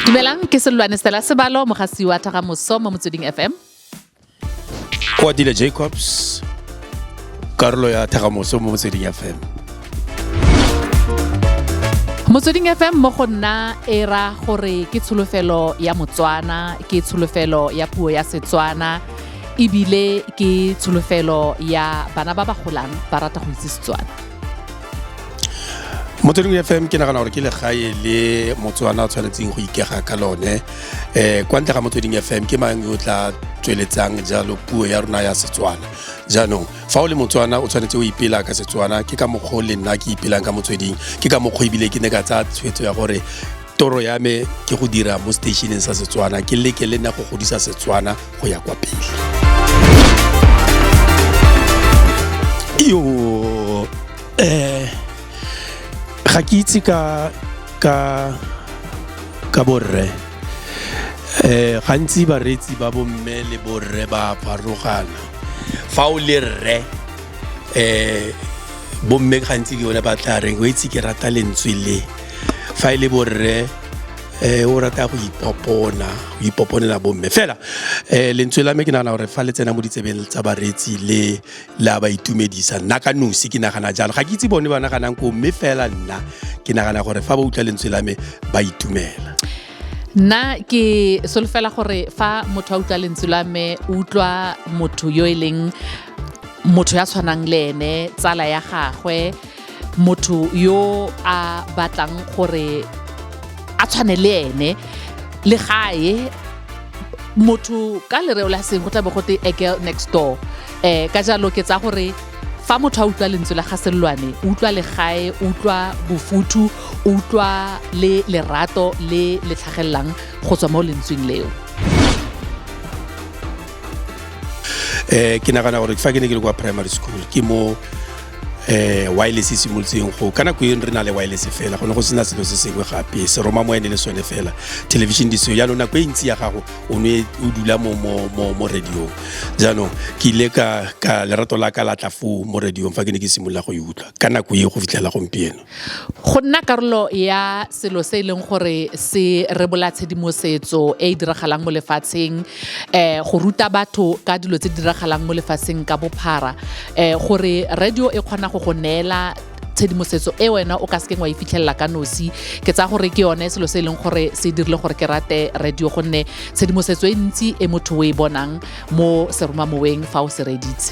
dumelang ke selwane stela sebalo mogasi wa thagamoso mo motsweding fm koatile jacobs karolo ya thagamoso mo motsweding fm motsweding fm mo go nna e ra gore ke tsholofelo ya motswana ke tsholofelo ya puo ya setswana ebile ke tsholofelo ya bana ba ba golang ba rata go itse setswana mo tseleng fm ke nagana gore ke legae le motswana o tshwanetseng go ikega ka lone um kwa ntle ga motsweding fm ke mang yo tla tsweletsang jalo puo ya rona ya setswana jaanong fa o le motswana o tshwanetse o ipela ka setswana ke ka mokgwa o le nna ke ipelang ka motsweding ke ka mokgwa ebile ke ne ka tsaya tshwetso ya gore toro ya me ke go dira mo stationeng sa setswana ke leke le nna go godisa setswana go ya kwa pele iyo um eh, ga ke itse ka ka ka borre um gantsi bareetsi ba bomme le borre ba farogana fa o le rre um bomme gantsi ke bone ba tla reng o itse ke rata lentswe le fa e le borre eh o rata go ipopona go ipoponela bomme fela eh lentswe la me ke nagana gore fa le tsena mo ditsebeng tsa bareetsi le la ba itumedisa nna ka nosi ke nagana jalo ga ke itse bone ba naganang ko mme fela nna ke nagana gore fa ba utlwa lentswe la me ba itumela nna ke solofela gore fa motho a utlwa lentswe la me o utlwa motho yo e leng motho ya tshwanang le ene tsala ya gagwe motho yo a batlang gore a tshwane le ene le gae motho ka lereo la seng go tla be go te a girl next door um ka jalo ke tsa gore fa motho a utlwa lentswe la ga sellwane o utlwa legae o utlwa bofuthu o utlwa le lerato le le tlhagelelang go tswa mo lentsweng leo eh ke nagana gore fa ke ne ke le kwa primary school ke mo eh wireless e simolotseng go ka nako eno re na le wireless fela go ne go sena selo se sengwe gape se roma mo ene le sone fela television di seo jaanong nako e ntsi ya gago o ne o dula mo mo mo mo radiong jaanong ke ile ka ka lerato la ka la tla foo mo radiong fa ke ne ke simolola go e utlwa ka nako e go fitlhela gompieno Go nna karolo ya selo se e leng gore se rebola tshedimosetso e e diragalang mo lefatsheng um go ruta batho ka dilo tse di diragalang mo lefatsheng ka bophara um gore radio e kgona go go neela tshedimosetso e wena o ka sekeng wa e fitlhelela ka nosi ke tsaya gore ke yone selo se e leng gore se dirile gore ke rate radio gonne tshedimosetso e ntsi e motho o e bonang mo seromamoweng fa o se reditse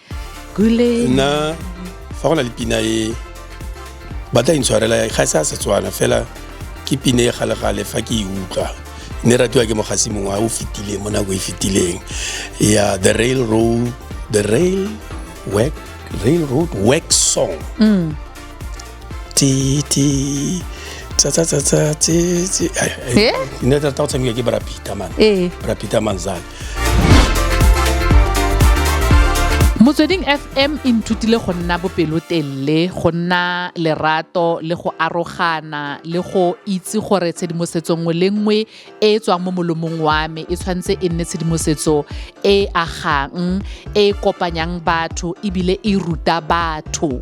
gule nna fa go na le pina e ba tla intshwarela e ga e se a setswana fela ke pine e galegale fa ke e utlwa ne ratiwa ke mogasi mongwe a o fetileng mo nako e fetileng ya the rail road the rail work rail road work song mm. ti ti tsa tsa tsa tsa tse tse ai, ai, Eh? ne tla tao tshameka ke brapita man Ee. brapita man zane motsweding fm e nthutile go nna bopelotelele go nna lerato le go arogana le go itse gore tshedimosetso nngwe le nngwe e e tswang mo molomong wa me e tshwanetse e nne tshedimosetso e e agang e e kopanyang batho ebile e ruta batho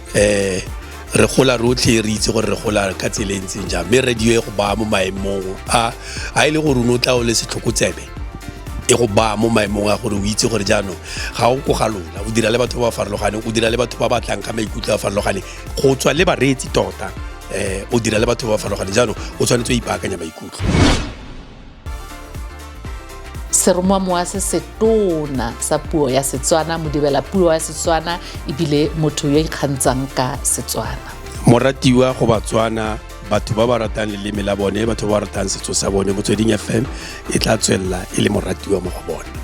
eh re gola rotlhe re itse gore re gola ka tsela e ntseng jang mme radio e go baya mo maemong a a e le gore o tla o le setlhokotsebe e go baya mo maemong a gore o itse gore jaanong ga o ko ga lona o dira le batho ba ba farologaneng o dira le batho ba ba tlang ka maikutlo a farologaneng go tswa le bareetsi tota um o dira le batho ba ba farologaneng jaanong o tshwanetse o ipaakanya maikutlo seromamowa se setona sa puo ya setswana modibela puo ya setswana ebile motho yo ikgantsang ka setswana moratiwa go batswana batho ba ba ratang leleme la bone batho ba ba ratang setso sa bone motsweding fm e tla tswelela e le moratiwa mo go bone